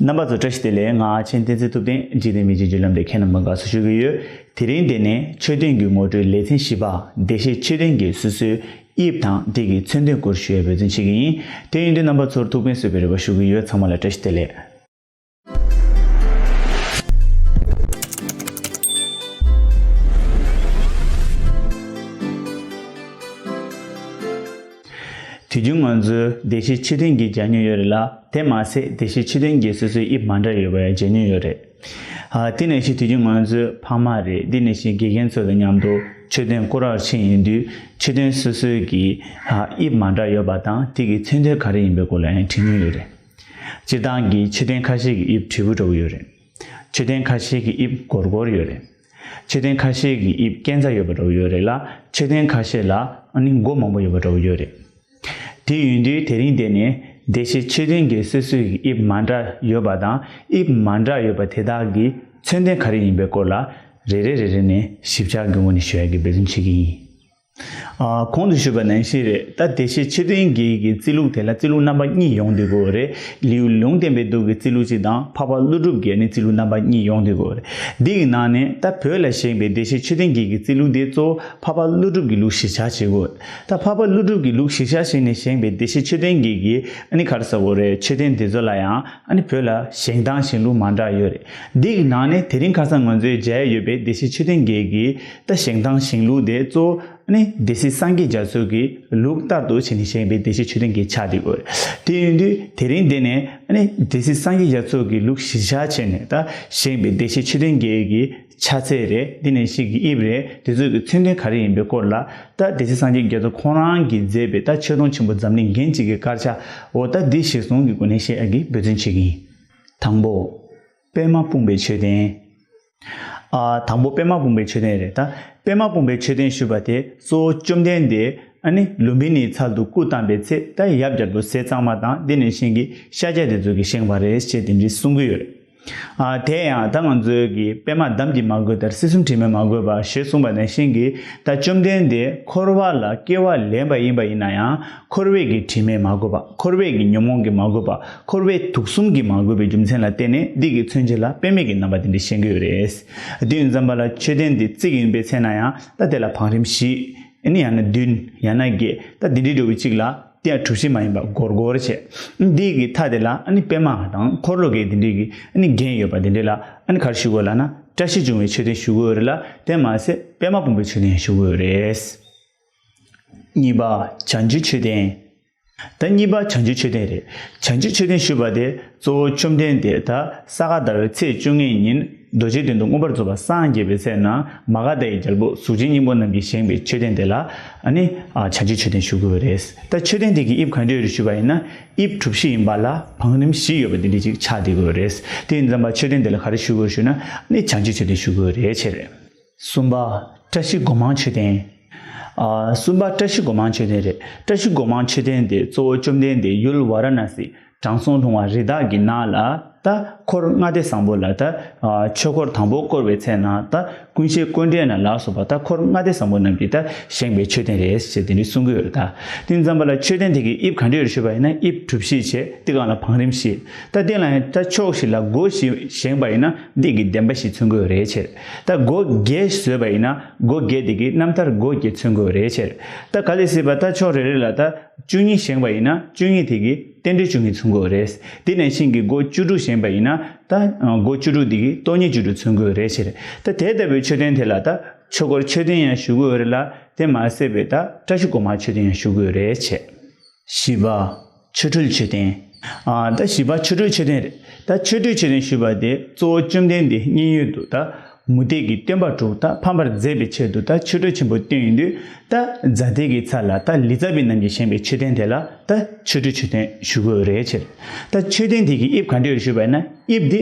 རྣམ་པ་ཚོ་བཀྲ་ཤིས་བདེ་ལེགས་ངག་ཆེན་བསྟན་འཛིན་ཐུབ་བསྟན་འཇིག་རྟེན་མི་འཇིགས་བརྒྱུད་ལམ་དེ་ཁྱེད་རྣམས་དགོན་ཁག་སུ་ཞུགས་ཀྱི་ཡོད་དེ་རིང་འདི་ནས་ཆོས་ལྡན་གྱི་ངོ་སྤྲོད་ལེ་ཚན་བཞི་པ་བདེ་གཤེགས་ཆོས་ལྡན་གྱི་སོ་སོའི་དབྱིབས་དང་བྲིས་ཀྱི་མཚོན་དོན་སྐོར་ཞུ་ཡས་འབོད་བརྩོན་བྱེད་ཀྱི་ཡིན་དེ་ཡིན་དུས་རྣམ་པ་ཚོར་ཐུགས་ཕན་གསོས་པའི་རེ་བ་ཞུ་གི་ཡོད་ཚང་མ་ལ་བཀྲ་ཤིས་བདེ་ལེགས། དུས་རྒྱུན་ང་ཚོའི་བདེ་གཤེགས་ཕྱི་དོན་གྱི་གྱ་སྨྱུག་ཡོད་རེད་ལ་དེ་མ་ཟད་བདེ་གཤེགས་ཕྱི་དོན་གྱི་སོ་སོའི་དབྱིབས་མ་འདྲ་ཡོད་པའི་གྱ་སྨྱུག་ཡོད་རེད། དེ་ནས་ཤི་དུས་རྒྱུན་ང་ཚོའི་ཕ་མ་རེད་འདི་ནས་ཤི་དགེ་རྒན་ཚོ་དང་མཉམ་དུ་ཆོས་དོན་བསྐོར་བར་ཕྱིན་ཡོང་དུས་ཕྱི་དོན་སོ་སོའི་གྱི་དབྱིབས་མ་འདྲ་ཡོད་པ་དང་དེ་གྱི་མཚོན་དོན་ག་རེ་ཡིན་པའི་སྐོར་ལ་ཡང་དྲིས་མྱོང་ཡོད་རེད། སྤྱིར་བཏང་གི་ཆོས་དོན་ཁ་ཤས་ཀྱི་དབྱིབས་དྲིལ་བུ་འདྲ་བོ་ཡོད་རེད། ཆོས་དོན་ཁ་ཤས་ཀྱི་དབྱིབས་གོར་གོར་ཡོད་རེད། ཕྱིར་དྲན་ཁ་ཤས་ཀྱི་དབྱིབས་སྐྱེ་འཚར་ཡོད་པ་འདྲ་བོ་ཡོད་རེད་ལ་ཕྱིར་དྲན་ཁ་ཤས་ལ་ནི་མགོ་མང་པོ་ཡོད་པ་འདྲ་བོ་ཡོད་རེད། དེ་ཡོད་དུས་དེ་རིང་འདི་ནས་བདེ་གཤེགས་ཕྱིར་དྲན་གྱི་སོ་སོའི་དབྱིབས་མ་འདྲ་ཡོད་པ་དང་དབྱིབས་མ་འདྲ་ཡོད་པ་དེ་དག་གི་མཚོན་དོན་ག་རེ་ཡིན་པའི་སྐོར་ལ་རེ་རེ་རེ་རེ་ནས་ཞིབ་ཆ་གི་ངོ་ནས་ཞུ་ཡ་གི་འབད་བརྩོན་བྱེད་ཀྱི་ཡིན། གོང་དུ་ཞུས་པ་ནན་བཤད་རེད་ད་དེ་ཤེས་ཕྱིར་དོན་གྱིས་ཀྱི་རྩིས་ལུགས་དེ་ལ་རྩིས་ལུགས་རྣམ་པ་གཉིས་ཡོང་དུས་དགོས་རེད་ལིའུ་ལུང་བསྟན་པའི་དུག་གི་རྩིས་ལུགས་གཅིག་དང་འཕགས་པ་ཀླུ་སྒྲུབ་རྒྱལ་ནི་རྩིས་ལུགས་རྣམ་པ་གཉིས་ཡོང་དུས་དགོས་རེད་འདི་ཡི་ནང་ནས་ད་བོད་ལ་བཞེངས་པའི་དེ་ཤེས་ཕྱིར་དོན་གྱིས་ཀྱི་རྩིས་ལུགས་དེ་གཙོ་བོ་འཕགས་པ་ཀླུ་སྒྲུབ་ཀྱི་ལུགས་གཞིར་བཞག་བྱེད་དགོས་རེད་ད་འཕགས་པ་ཀླུ་སྒྲུབ་ཀྱི་ལུགས་གཞིར་བཞག་བྱས་ནས་བཞེངས་པའི་དེ་ཤེས་ཕྱིར་དོན་གྱིས་ཀྱི་ཨ་ནི་ག་རེ་ཟ་དགོས་རེད་ཕྱིར་དོན་དེ་ཚོ་ལ་ཡང་ཨ་ནི་བོད་ལ་བཞེངས་སྟངས་བཞེངས་ལུགས་མང་དྲགས་ཡོད་རེད་འདི་ཡི་ནང་ནས་དེ་རིང་ཁ་སང་ང་ཚོའི་མཇལ་ཡས་ཡོད་པའི་དེ་ཤེས་ཕྱིར་དོན་གྱིས་ཀྱི། ལྟ་བཞེངས་སྟངས་བཞེངས་ལུགས་དེ་གཙོ་བོ་ནི་སྡེ་སྲིད་སངས་རྒྱས་རྒྱ་མཚོས་ཀྱི་ལུགས་ལྟར་དུ་བྱས་ནས་བཞེངས་པའི་སྡེ་བཞི་མཆོད་རྟེན་གྱི་ཆ་དེ་དགོས། དེ་ཡིན་དུས་དེ་རིང་འདི་ནས་སྡེ་སྲིད་སངས་རྒྱས་རྒྱ་མཚོ་གི་ལུགས་གཞིར་བཞག་བྱས་ནས་ད་བཞེངས་པའི་སྡེ་བཞི་མཆོད་རྟེན་གྱི་གི་ཆ་ཚད་རེ་འདི་ནས་ཞིག་གི་དབྱིབས་རེ་དེ་ཚོ་གི་མཚོན་དོན་ག་རེ་ཡིན་པའི་སྐོར་ལ་ད་སྡེ་སྲིད་སངས་རྒྱས་རྒྱ་མཚོ་ཁོང་རང་གིས་མཛད་པའི་ད་མཆོད་སྡོང་ཆེན་པོ་འཛམ་གླིང་རྒྱན་གཅིག་གི་དཀར་ཆ་འོ་ད་འདི་ཞིག་ཟུང་གི་སྒོ་ནས་བཤད་ཀྱི་འབོད་བརྩོན་བྱེད་ཀྱི་ཡིན། དང་པོ། པདྨ་སྤུངས་པའི་མཆོད་རྟེན། ཨ། དང་པོ་པདྨ་སྤུངས་པའི་མཆོད་རྟེན་རེད་ད། པདྨ་སྤུངས་པའི་མཆོད་རྟེན་ཞུས་པ་དེ་གཙོ་བོ་བཅོམ་ལྡན་འདས་ཨ་ནི་ལུམ་བི་ནིའི་ཚར་དུ་སྐུ་བལྟམས་པའི་ཚེ་ད་ཡབ་རྒྱབ་ཏུ་ཟས་གཙང་མ་དང་དེ་ནས་བཞེངས་ཀྱི་ཤཱཀྱ་དེ་ཚོ་གིས་བཞེངས་པ་རེད་ཅེས་དེ་འདྲའི་གསུང་གི་ཡོད། ཨ། དེ་ཡང་ད་ང་ཚོའི་གི་པདྨ་འདམ་གྱིས་མ་གོས་དར་སྲི་གསུམ་བྲིས་མས་མ་གོས་པ་ཞེས་གསུངས་པ་ནས་བཞེངས་ཀྱི་ད་བཅོམ་ལྡན་འདས་འཁོར་བ་ལ་སྐྱེ་བ་ལེན་པ་ཡིན་པ་ཡིན་ན་ཡང། འཁོར་བས་ཀྱི་དྲི་མས་མ་གོས་པ། འཁོར་བས་ཀྱི་ཉོན་མོངས་ཀྱིས་མ་གོས་པ། འཁོར་བས་དུག་གསུམ་གྱིས་མ་གོས་པའི་རྒྱུ་མཚན་ལ་བརྟེན་ནས་འདི་གའི་མཚོན་བྱེད་ལ་དཔེ་མེད་ཀྱི་རྣམ་པ་འདི་འདྲས་བཤད་གི་ཡོད་རེད། དུས་མཚམས་པ་ལ་མཆོད་རྟེན་འདི་བརྩིགས་ཡིན་པའི་ཚེ་ན་ཡང་ད་དེ་ལ་བང་རིམ་བཞི། ཡང་ན་བདུན། ཡང་ན་བརྒྱད། ད་འདི་འདྲའི་འགྲོ་བའི་གཅིག་ལ་དེ་ཡང་གྲུ་བཞི་མ་ཡིན་པར་སྒོར་སྒོར་བྱས། འདི་གའི་མཐའ་དེ་ལ་པད་མ་དང་འཁོར་ལོ་གའི་འདི་འདྲས་ཀྱི་རྒྱན་ཡོད་པ་འདི་འདྲས་ལ་གར་ཞུ་དགོས་ལ་ན་བཀྲ་ཤིས་འབྱུང་བའི་མཆོད་རྟེན་ཞུ་གི་ཡོད་རེད་ལ་དེར་མ་ཟད་པད་མ་སྤུངས་པའི་མཆོད་རྟེན་ཡང་ཞུ་གི་ཡོད་རེད། གཉིས་པ་བྱང་ཆུབ་མཆོད་རྟེན། ད་གཉིས་པ་བྱང་ཆུབ་མཆོད་རྟེན་རེད། བྱང་ཆུབ་མཆོད་རྟེན་ཞུས་པ་དེ་གཙོ་བོ་བཅོམ་ལྡན་འདས་ད་ས་ག་ཟླ་བའི་ཚེས་བཅོ་ལྔའི་ཉིན་རྡོ་རྗེ་གདན་དུ་མངོན་པར་རྫོགས་པར་སངས་རྒྱས་པའི་ཚེ་ན་མ་ག་དྷཱ་ཡི་རྒྱལ་པོ་གཟུགས་ཅན་སྙིང་པོ་རྣམས་ཀྱིས་བཞེངས་པའི་མཆོད་རྟེན་དེ་ལ་ནི་བྱང་ཆུབ་མཆོད་རྟེན་ཞུ་དགོས་པ་རེད། ད་མཆོད་རྟེན་དེ་གི་དབྱིབས་གང་འདྲའི་རེད་ཞུས་པ་ཡིན་ན་དབྱིབས་གྲུ་བཞི་ཡིན་པ་ལ་བང་རིམ་བཞི་ཡོད་པ་དེ་འདྲའི་ཅིག་ཕྱག་འདེབས་དགོས་པ་རེད། དེ་ཡིན་ཙམ་པ་མཆོད་རྟེན་དེ་ལ་ག་རེ་ཞུ་དགོས་ཞུས་ན་ནི་བྱང་ཆུབ་མཆོད་རྟེན་ཞུ་དགོས་པ་རེད་བྱས་རེད། གསུམ་པ་བཀྲ་ཤིས་སྒོ་མང་མཆོད་རྟེན། གསུམ་པ་བཀྲ་ཤིས་སྒོ་མང་མཆོད་རྟེན་རེད། བཀྲ་ཤིས་སྒོ་མང་མཆོད་རྟེན་དེ་གཙོ་བོ་བཅོམ་ལྡན་འདས་ཡུལ་བ་ར་ན་སི་དྲང་སྲོང་ལྷུང་བ་རི་དྭགས་ཀྱི་ནགས་ལ་ད་འཁོར་ལྔ་སྡེ་བཟང་པོ་ལ་ད་ཆོས་འཁོར་དང་པོ་བསྐོར་བའི་ཚེ་ན་ད་ཀུན་བྱེད་ཀུན་འདྲེན་ལ་ལགས་སོ་པ་ད་འཁོར་ལྔ་སྡེ་བཟང་པོ་རྣམས་ཀྱིས་ད་བཞེངས་པའི་མཆོད་རྟེན་རེད་ཅེས་དེ་འདྲའི་གསུང་གི་ཡོད་ད་ཏིང་ཙམ་པ་ལ་མཆོད་རྟེན་དེ་གི་དབྱིབས་ག་འདྲས་རེ་ཤོད་པ་ཡིན་ན་དབྱིབས་གྲུ་བཞི་བྱས་ཏེ་གང་ལ་བང་རིམ་བཞི་ད་སྟེང་ལ་ཡང་ད་ཕྱོགས་བཞི་ལ་སྒོ་བཞི་བཞེངས་པ་ཡིན་ན་སྡེ་དགེ་ལྡན་པ་ཞིག་མཚོན་དགོས་རེད་ཅེས། ད་སྒོ་བརྒྱད་བཟོས་པ་ཡིན་ན་སྒོ་བརྒྱད་དེ་གི་རྣམ་ཐར་སྒོ་བརྒྱད་མཚོན་དགོས་རེད་ཕྱིར། ད་ག་ལས་སྲིད་པ་ད་ཕྱོགས་རེ་རེ་ལ་ད་བཅུ་གཉིས་བཞེངས་པ་ཡིན་ན་བཅུ་གཉིས་དེ་གི་རྟེན་འབྲེལ་བཅུ་གཉིས་མཚོན་དགོས་རེད། དེ་ནས་ཕྱིན་གི་སྒོ་བཅུ་དྲུག་བཞེངས་པ་ཡིན་ན་ད་སྒོ་བཅུ་དྲུག་དེ་གི་སྟོང་ཉིད་བཅུ་དྲུག་མཚོན་དགོས་རེད་ཕྱིར། ད་དེ་ལྟ་བུའི་མཆོད་རྟེན་དེ་ལ་ད་ཆོས་སྒོར་མཆོད་རྟེན་ཡང་ཞུ་དགོས་རེད་ལ་དེ་མ་ཟད་པའི་ད་བཀྲ་ཤིས་སྒོ་མང་མཆོད་རྟེན་ཡང་ཞུ་དགོས་རེད་ཕྱིར། བཞི་པ། ཆོ་འཕྲུལ་མཆོད་རྟེན། ད་བཞི་པ་ཆོ་འཕྲུལ་མཆོད་རྟེན་རེད། ད་ཆོ་འཕྲུལ་མཆོད་རྟེན་ཞུས་པ་དེ་གཙོ་བོ་བཅོམ་ལྡན་འདས་མཉན་ཡོད་དུ་ད་མུ་སྟེགས་ཀྱི་སྟོན་པ་དྲུག་ད་ཕམ་པར་མཛད་པའི་ཆེད་དུ་ད་ཆོ་འཕྲུལ་ཆེན་པོ་བཏོན་ཡོད་དུས་ད་རྫ་དེ་གི་ཚ་ལ་ད་ལི་ཙཱ་བི་རྣམས་ཀྱིས་བཞེངས་པའི་མཆོད་རྟེན་དེ་ལ་ད་ཆོ་འཕྲུལ་མཆོད་རྟེན་ཞུ་དགོས་རེད་ཕྱིར། ད་མཆོད་རྟེན་དེ་གི་དབྱིབས་ག་འདྲས་རེད་ཞུས་པ་ན་དབྱིབས་དེ།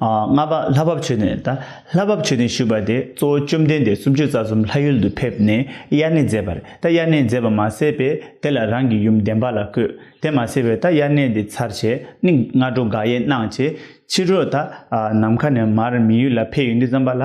ལྔ་པ་ལྷ་བབས་ཆོས་ནས་ད་ལྷ་བབས་ཆོས་ནས་ཞུས་པ་དེ་གཙོ་བོ་བཅོམ་ལྡན་འདས་སུམ་ཅུ་རྩ་གསུམ་ལྷ་ཡུལ་དུ་ཕེབས་ནས་དབྱར་གནས་མཛད་པར་ད་དབྱར་གནས་མཛད་པ་མ་ཟད་པས་དེ་ལ་རང་གི་ཡུམ་བདེན་པ་ལ་བཀོད་དེ་མ་ཟད་པས་ད་དབྱར་གནས་འདི་ཚར་བྱས་ནི་སྔ་དྲོ་དགག་དབྱེ་གནང་བྱས་ཕྱི་དྲོ་ད་ནམ་མཁའ་ནས་མར་མི་ཡུལ་ལ་ཕེབས་ཡོང་དུས་བརྩམས་པ་ལ།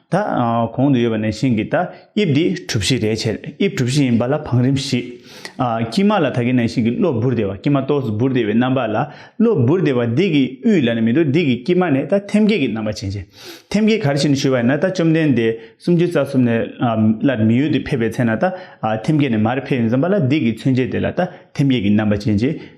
ད་གོང་དུ་ཡོད་པ་ནས་བཞིན་གྱི་ད་དབྱིབས་འདི་གྲུ་བཞི་རེད་བྱས། དབྱིབས་གྲུ་བཞི་ཡིན་པ་ལ་བང་རིམ་བཞི། དཀྱིལ་མ་ལ་ད་གིན་ནས་བཞིན་གྱི་གློ་འབུར་དེ་བ་དཀྱིལ་མ་གཏོགས་སུ་འབུར་དེ་བའི་རྣམ་པ་ལ་གློ་འབུར་དེ་བ་འདི་གི་དབུས་ལ་ནི་མི་འདུག་འདི་གི་དཀྱིལ་མ་ནས་ད་ཐེམ་སྐས་ཀྱི་རྣམ་པ་བྱིན་བྱེད། ཐེམ་སྐས་གར་བྱིན་ཞུ་བ་ཡིན་ན་ད་བཅོམ་ལྡན་འདས་སུམ་ཅུ་རྩ་གསུམ་ནས་སླར་མི་ཡུལ་དུ་ཕེབས་པའི་ཚེ་ན་ད་ཐེམ་སྐས་ནས་མར་ཕེབས་ཡིན་བསམ་པ་ལ་འདི་གི་མཚོན་བྱེད་དེ་ལ་ད་ཐེམ་སྐས་ཀྱི་རྣམ་པ་བྱིན་བྱེད།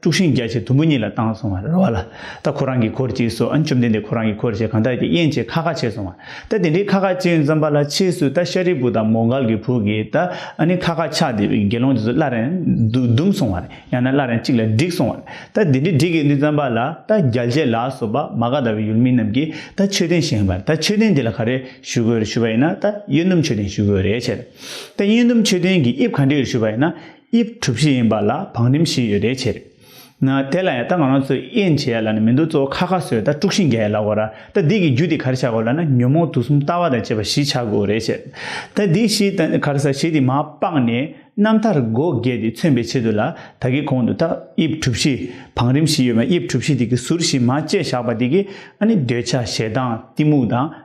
དཀྲུགས་ཤིང་རྒྱ་ཆེ་དུམ་བུ་གཉིས་ལ་བཏང་སོང་བ་རེད་བ་ལ། ད་ཁོ་རང་གིས་འཁོར་གྱིས་སོ་ཨ་མཆོམ་ལྡན་འདས་ཁོ་རང་གིས་འཁོར་བྱས་གང་དག་གིས་དབྱེན་བྱས་ཁ་ཁ་བྱས་སོང་བ། ད་དེ་འདྲའི་ཁ་ཁ་བྱས་མཚམས་པ་ལ་ཕྱིས་སུ་ད་ཤཱ་རིའི་བུ་དང་མོ་འགལ་གྱི་བུ་གིས་ད་ཨ་ནི་ཁ་ཁ་ཆགས་བསྡད་པའི་དགེ་སློང་རྗེས་སུ་སླར་ཡང་བརྡུང་སོང་བ་རེད་ཡང་ན་སླར་ཡང་གཅིག་ལ་བསྒྲིགས་སོང་བ་རེད་ད་དེ་འདྲའི་བསྒྲིགས་གི་འདུག་མཚམས་པ་ལ་ད་རྒྱལ་བྱེད་ལ་སོགས་པ་མ་ག་ད་བའི་ཡུལ་མི་རྣམས་ཀྱིས་ད་ཆོས་ལྡན་བཞེངས་པ་རེད་ད་ཆོས་ལྡན་དེ་ལ་ག་རེ་ཞུ་དགོས་རེད་ཞུས་པ་ཡིན་ན་ད་གཡོན་དུམ་ཆོས་ལྡན་ཞུ་དགོས་རེད་བྱས། ད་གཡོན་དུམ་ཆོས་ལྡན་གྱིས་དབྱིབས་ག་འདྲའི་ཞུས་པ་ཡིན་ན། དབྱིབས་གྲུ་བཞི་ཡིན་པ་ལ་བང་རིམ་བཞི་ཡོད་རེ་བྱས། ན་དེ་ལ་ཡང་ད་ང་རང་ཚོས་དབྱེ་འབྱེད་ཡ་ལ་ནི་མི་འདུག་གཙོ་བོ་ཁ་ཁ་བཟོས་ད་དཀྲུགས་ཤིང་འགས་ལ་གོ་ར་ད་འདི་གི་རྒྱུ་དེ་གར་ཆགས་དགོས་ལ་ན་ཉོན་མོངས་དུག་གསུམ་ལྟ་བ་དང་བཅས་པ་བཞི་ཆགས་དགོས་རེ་བྱས། ད་འདི་བཞི་དང་གར་ས་བཞི་དེ་མ་སྤངས་ནས་རྣམ་ཐར་སྒོ་བརྒྱད་དེ་མཚོན་པའི་ཆེད་དུ་ལ་ད་གི་གོང་དུ་ད་དབྱིབས་གྲུ་བཞི་བང་རིམ་བཞི་ཡོད་པ་དབྱིབས་གྲུ་བཞི་དེ་གི་ཟུར་བཞི་མ་བཅད་བཞག་པ་དེ་གི་ཨ་ནི་འདོད་ཆགས་ཞེ་སྡང་གཏི་མུག་དང།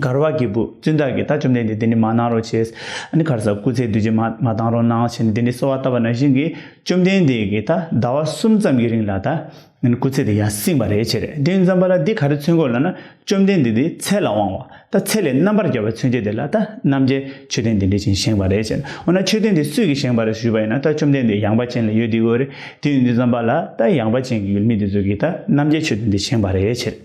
གར་བ་གྱི་བུ་བཙུན་བདག་གིས་ད་བཅོམ་ལྡན་འདས་འདི་ནི་མ་གནང་རོགས་བྱས། ཨ་ནི་གར་ས་སྐུ་ཚེ་བདུད་རྗེ་མ་མ་བཏང་རོགས་གནང་བྱས་ནས་དེ་ནས་གསོལ་བ་བཏབ་པ་ན་བཞིན་གྱི་བཅོམ་ལྡན་འདས་ཀྱིས་ད་ཟླ་བ་གསུམ་ཙམ་གྱི་རིང་ལ་ད་ནི་སྐུ་ཚེ་དེ་ཡང་བསྲིངས་པ་རེད་བྱས། དེ་མཚམས་པ་ལ་འདི་ག་རེ་ཚུན་གོ་ལ་ན་བཅོམ་ལྡན་འདས་དེའི་ཚད་ལ་དབང་བ་ད་ཚད་ལས་རྣམ་པར་རྒྱལ་བ་ཚུན་ཆད་དེ་ལ་ད་རྣམ་རྒྱལ་མཆོད་རྟེན་འདི་འདྲས་ཅན་བཞེངས་པ་རེད་བྱས། འོ་ན་མཆོད་རྟེན་འདི་སུས་ཀྱིས་བཞེངས་པ་རེད་ཞུས་པ་ཡིན་ན་ད་བཅོམ་ལྡན་འདས་ཡངས་པ་ཅན་ལ་ཡོད་དེ་གོ་རེད་དེ་ཡོད་འདི་མཚམས་པ་ལ་ད་ཡངས་པ་ཅན་གྱི་ཡུལ་མི་དེ་ཚོས་ཀྱིས་ད་རྣམ་རྒྱལ་མཆོད་རྟེན་འདི་བཞེངས་པ་རེད་བྱས།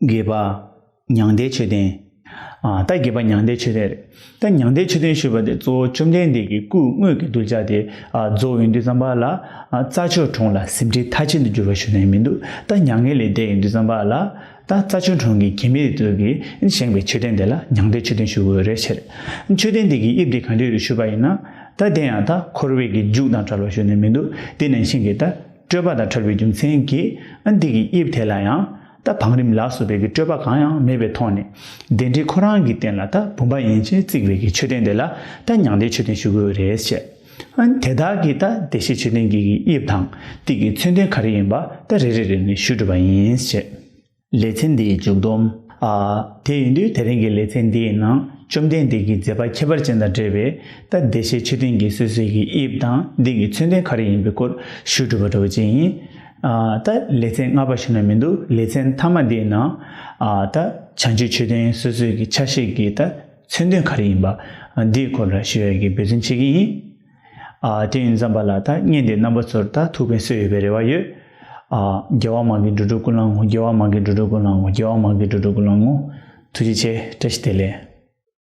དགེས་པ་མྱང་འདས་ཆོས་ལྡན། ད་དགེས་པ་མྱང་འདས་ཆོས་ལྡན་རེད། ད་མྱང་འདས་ཆོས་ལྡན་ཞུས་པ་དེ་གཙོ་བོ་བཅོམ་ལྡན་འདས་ཀྱི་སྐུའི་དངོས་ཀྱི་གདུལ་བྱ་དེ་རྫོགས་ཡོན་ཏུ་བརྩམས་པ་ལ། རྩྭ་ཆུ་གྲོང་ལ་ཟིན་བྲིས་མཐའ་ཅན་དུ་བསྒྱུར་བ་ཞུ་ནས་མི་འདུག་ད་མྱ་ངན་ལས་འདས་ཡོན་ཏུ་བརྩམས་པ་ལ། ད་རྩྭ་ཆུ་གྲོང་གི་གྱད་མིས་དེ་ཚོ་གིས་བཞེངས་པའི་མཆོད་རྟེན་དེ་ལ་མྱང་འདས་ཆོས་ལྡན་ཞུ་དགོས་རེད་ཕྱིར། མཆོད་རྟེན་དེ་གི་དབྱིབས་དེ་གང་འདྲས་རེད་ཞུས་པ་ཡིན་ན། ད་དེ་ཡང་ད་འཁོར་བའི་གི་རྒྱུགས་དང་བྲལ་བ་ཞུ་ནས་མི་འདུག་དེ་ནས་ཤིང་གི་ད། སྤྲོས་པ་དང་བྲལ་བའི་རྒྱུ་མཚན་གྱིས་འདི་ཀྱི་དབྱིབས་དེ་ལ་ཡང་ད་བང་རིམ་ལ་སོགས་པའི་གི་སྤྲོས་པ་གང་ཡང་མེད་པའི་ཐོག་ནས་བདེན་འབྲེལ་ཁོ་རང་གི་རྟེན་ལ་ད་བུམ་པ་ཡན་ཆད་བརྩིགས་པའི་གི་མཆོད་རྟེན་དེ་ལ་ད་མྱང་འདས་མཆོད་རྟེན་ཞུ་དགོས་རེད་ཅེ། དེ་དག་གིས་ད་བདེ་གཤེགས་མཆོད་རྟེན་གྱི་གི་དབྱིབས་དང་དེ་གི་མཚོན་དོན་ག་རེ་ཡིན་པ་ད་རེ་རེ་རེ་ནས་ཞུས་གྲུབ་པ་ཡིན་ཅེ། ལེ་ཚན་འདིའི་མཇུག་བསྡོམས། ཨ། དེ་ཡིན་དུས་དེ་རིང་གི་ལེ་ཚན་འདིའི་ནང་བཅོམ་ལྡན་འདས་ཀྱི་མཛད་པ་ཁྱད་པར་ཅན་དང་འབྲེལ་བའི་རྟ་བདེ་གཤེགས་མཆོད་རྟེན་གྱི་སོ་སོའི་གི་དབྱིབས་དང་འདི་གི་མཚོན་དོན་ག་རེ་ཡིན་པའི་སྐོར་ཞུས་གྲུབ་པ་འདྲ་བོ་ཅན་ཡིན། ཨ། ད་ལེ་ཚན་ལྔ་པ་ཞིག་ན་མི་འདུག་ལེ་ཚན་མཐའ་མ་འདིའི་ནང། ཨ། ད་བྱང་ཆུབ་མཆོད་རྟེན་སོ་སོའི་གི་ཆ་ཤས་ཀྱི་རྟ་མཚོན་དོན་ག་རེ་ཡིན་པ་འདིའི་སྐོར་ལ་ཞུ་ཡ་གི་འབོད་བརྩོན་བྱེད་ཀྱི་ཡིན། དེ་ཡིན་བསམ་པ་ལ་ཐ་སྙད་འདི་རྣམ་པ་ཚོར་ད་ཐུག་པའི་སྲོལ་ཡོད་པའི་རེ་བ་ཡོད། རྒྱལ་བ་མང་གི་འགྲོ་དྲུག་ཀུན་བླང་ངོ་རྒྱལ་བ་མང་གི་འགྲོ་དྲུག་ཀུན་བླང་ངོ་རྒྱལ་བ་མང་གི་འགྲོ་དྲུག་ཀུན་བླང་ངོ། ཐུགས་རྗེ་ཆེ་བཀྲ་ཤིས་བདེ་ལེགས།